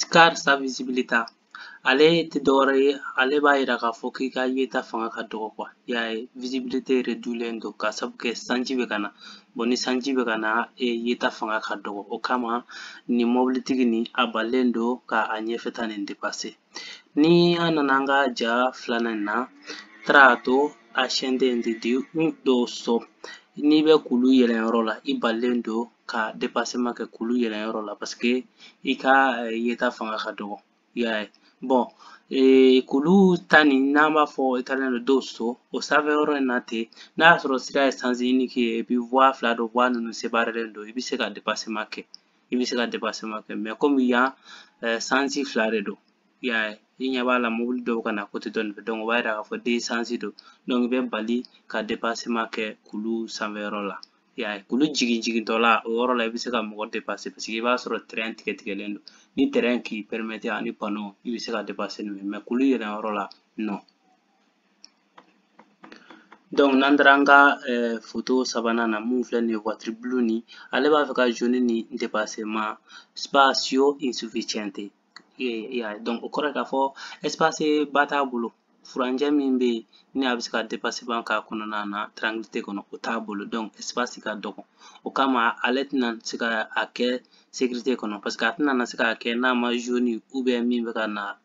scarsa visibilità ale tɛ dɔwɛrɛ ye ale b'a yira k'a fɔ k'i ka yeta fanga ka dɔgɔ kuwa i y'a ye visibilité redulen don k'a sabu kɛ sanji bɛ ka na bɔn ni sanji bɛ ka na e yeta fanga ka dɔgɔ o kama nin mɔbilitigi nin a balilen don ka a ɲɛfɛta nin depase ni an nana an ka ja filanan in na tratto ascendente di un dosso n'i bɛ kulu yɛlɛn yɔrɔ la i balilen don ka depasema kɛ kulu yɛlɛn yɔrɔ la paseke i ka yeta fanga ka dɔgɔ i y'a ye bɔn ee kulu ta nin n'an b'a fɔ italien dosso o sanfɛ yɔrɔ in na ten n'a y'a sɔrɔ sira ye sens unique ye et puis voie fila don voie ninnu séparélen don i bɛ se ka depasema kɛ i bɛ se ka dépassement kɛ mais komi yan sansi fila de don i y'a ye i ɲɛ b'a la mobili dɔ bɛ ka na kote dɔ nin fɛ o b'a yira k'a fɔ deux sansi don donc i bɛ bali ka dépassement kɛ kulu sanfɛyɔrɔ la i y'a ye kulu jigin jigintɔ la o yɔrɔ la i bɛ se ka mɔgɔ dépasser paseke i b'a sɔrɔ trait tigɛ tigɛlen don ni trait k'i permettre ani panneau i bɛ se ka dépasser n'o ye mais kulu yɛlɛnyɔrɔ la non donc n'an taara an ka foto sabanan na min filɛ nin ye voiture bleu nin ale b'a fɛ ka jaune nin dépasser mais spazio insufficiente y'a ye donc o kɔrɔ ye k'a fɔ espace ba t'a bolo furancɛ min bɛ yen ni a bɛ se ka dépassement k'a kɔnɔna na tranquillité kɔnɔ o t'a bolo donc espace ka dɔgɔ o kama ale tɛna se ka a kɛ sécurité kɔnɔ parce que a tɛna se k'a kɛ n'a ma jaune ou bien min bɛ ka na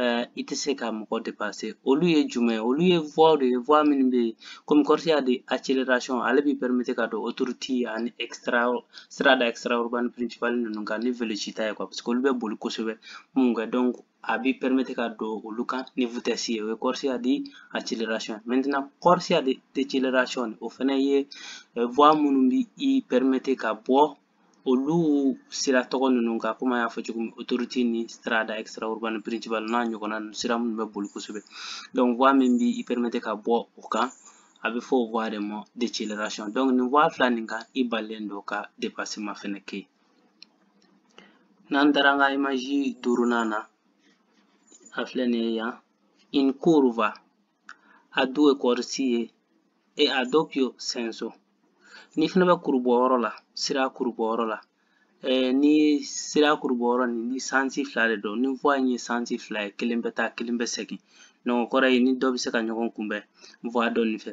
uh, i tɛ se ka mɔgɔ depase olu ye jumɛn ye olu ye voie de ye voie minnu bɛ yen komi corsia di acceleration ale b'i permettre ka don autoroute ani strada extra urbaine principale ninnu kan ni velocità ye quoi parce que olu bɛ boli kosɛbɛ minnu kan donc a b'i permettre ka don olu kan ni vitesse ye o ye corsia di acceleration maintenant corsia di déceleration o fana ye voie minnu bɛ i permettre ka bɔ olu sira tɔgɔ ninnu kan komi an y'a fɔ cogo min autoroute ni strada extra urban principal n'a ɲɔgɔnna ninnu sira minnu bɛ boli kosɛbɛ donc voie min b'i permettre ka bɔ o kan a bɛ fɔ o voie de ma deceleration donc nin voie fila nin kan i balilen don ka dépassement fɛnɛ kɛ n'an taara an ka image duurunan na a filɛ nin ye yan in curva a due corsie e a doppio senso n'i fɛnɛ bɛ kurubu yɔrɔ la sira kurubu yɔrɔ la ɛɛ ni sira kurubu yɔrɔ nin ni sansi fila de don ni voie in ye sansi fila ye kelen bɛ taa kelen bɛ segin donc o kɔrɔ ye i ni dɔ bɛ se ka ɲɔgɔn kunbɛn voie dɔ nin fɛ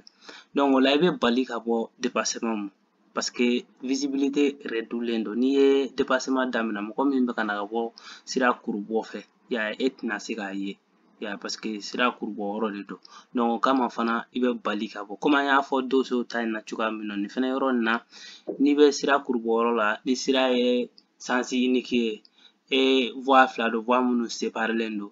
donc o la i bɛ bali ka bɔ depasɛman ma parce que visibilité rɛdulen don n'i ye dépassement daminɛ mɔgɔ min bɛ ka na ka bɔ sira kurubɔ fɛ y'a ye e tɛna se k'a ye y'a ye parce que sira kurubɔ yɔrɔ de don donc o kama fana i bɛ bali ka bɔ komi an y'a fɔ donso ta in na cogoya min na nin fana yɔrɔ nin na n'i bɛ sira kurubɔ yɔrɔ la ni sira ye sens unique ye e voie fila don voie minnu separelen don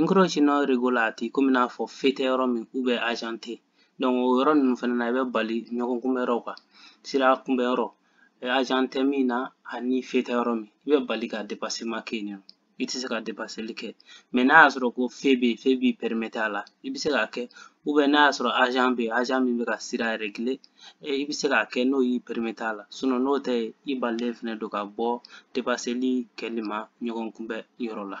Incroci non regolati komi n'a fɔ feu tɛ yɔrɔ min ou bien agent tɛ donc o yɔrɔ ninnu fana na i bɛ bali ɲɔgɔn kunbɛ yɔrɔ quoi sira kunbɛ yɔrɔ agent tɛ min na ani feu tɛ yɔrɔ min i bɛ bali ka dépassement kɛ yen i tɛ se ka dépasseli kɛ mais n'a y'a sɔrɔ ko feu bɛ yen feu b'i permettre a la i bɛ se k'a kɛ ou bien n'a y'a sɔrɔ agent bɛ yen agent min bɛ ka sira réguler i bɛ se k'a kɛ n'o y'i permettre a la sinon n'o tɛ i balilen fana don ka bɔ dépasseli kɛli ma ɲɔgɔn kunbɛ yɔrɔ la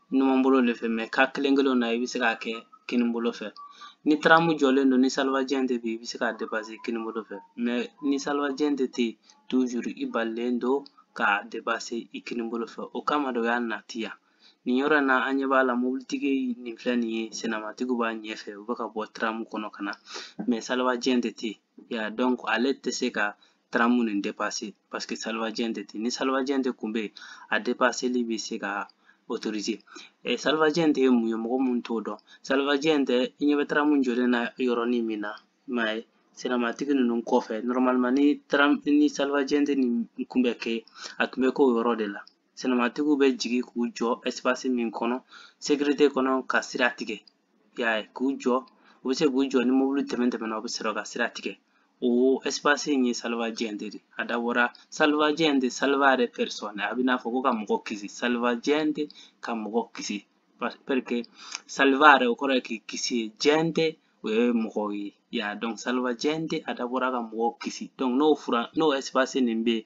numanbolo de fɛ mais cas kelen kelen na i bɛ se k'a kɛ kinibolo fɛ ni taramu jɔlen don ni salvagente i bɛ se k'a dépasser kinibolo fɛ mais ni salvagente tɛ yen toujours i balilen don k'a dépasser i kinibolo fɛ o kama de o y'a nati yan nin yɔrɔ in na an ɲɛ b'a la mobilitigi nin filɛ nin ye senamatigiw b'a ɲɛfɛ u bɛ ka bɔ taramu kɔnɔ ka na mais salvagente tɛ yen ya donc ale tɛ se ka taramu nin dépasser parce que salvagente tɛ yen ni salvagente kun bɛ yen a dépasseli bɛ se ka autoriser eh, salvagente ye mun ye mɔgɔ mun t'o dɔn salvagente i ɲɛ bɛ taramu jɔlen na yɔrɔnin min na i m'a ye senamatigi ninnu kɔfɛ normalement ni taram ni salvagente nin kun bɛ kɛ a tun bɛ k'o yɔrɔ de la senamatigiw bɛ jigin k'u jɔ espace min kɔnɔ sécurité kɔnɔ ka sira tigɛ i y'a ye k'u jɔ u bɛ se k'u jɔ ni mobili tɛmɛn tɛmɛna u bɛ sɔrɔ ka sira tigɛ o espace in ye salvagente ye a dabɔra salvagente salvare personne a bɛ n'a fɔ ko ka mɔgɔ kisi salvagente ka mɔgɔ kisi parce que salvare o kɔrɔ ye k'i kisi gente o ye mɔgɔw ye y'a donc salvagente a dabɔra ka mɔgɔw kisi n'o fura n'o espace nin bɛ yen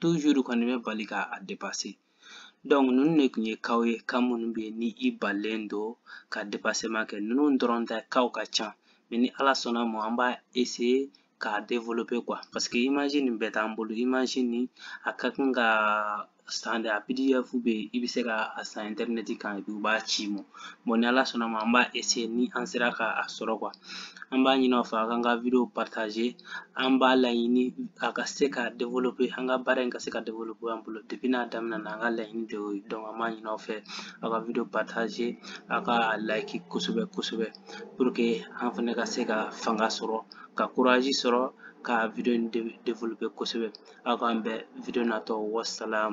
toujours kɔni bɛ bali ka a dépasser donc ninnu de tun ye kaw ye cas minnu bɛ yen ni i balilen don ka dépassement kɛ ninnu dɔrɔn tɛ kaw ka ca mais ni ala sɔnna ma an b'a essayer k'a développer quoi parce que image nin bɛɛ t'an bolo image nin a ka kan ka san de a pdf bɛ yen i bɛ se ka a san internet kan u b'a ci i ma bon ni ala sɔnna ma an b'a essayer ni an sera ka a sɔrɔ quoi an b'a ɲini aw fɛ a k'an ka video partager an b'a laɲini a ka se ka développer an ka baara in ka se ka développer an bolo depuis n'a daminɛ na an ka laɲini de y'o ye donc an b'a ɲini aw fɛ a ka video partager a ka a like kosɛbɛ kosɛbɛ pour que an fɛnɛ ka se ka fanga sɔrɔ ka courage sɔrɔ ka video in développer kosɛbɛ aw k'an bɛn video natɔ wassalamu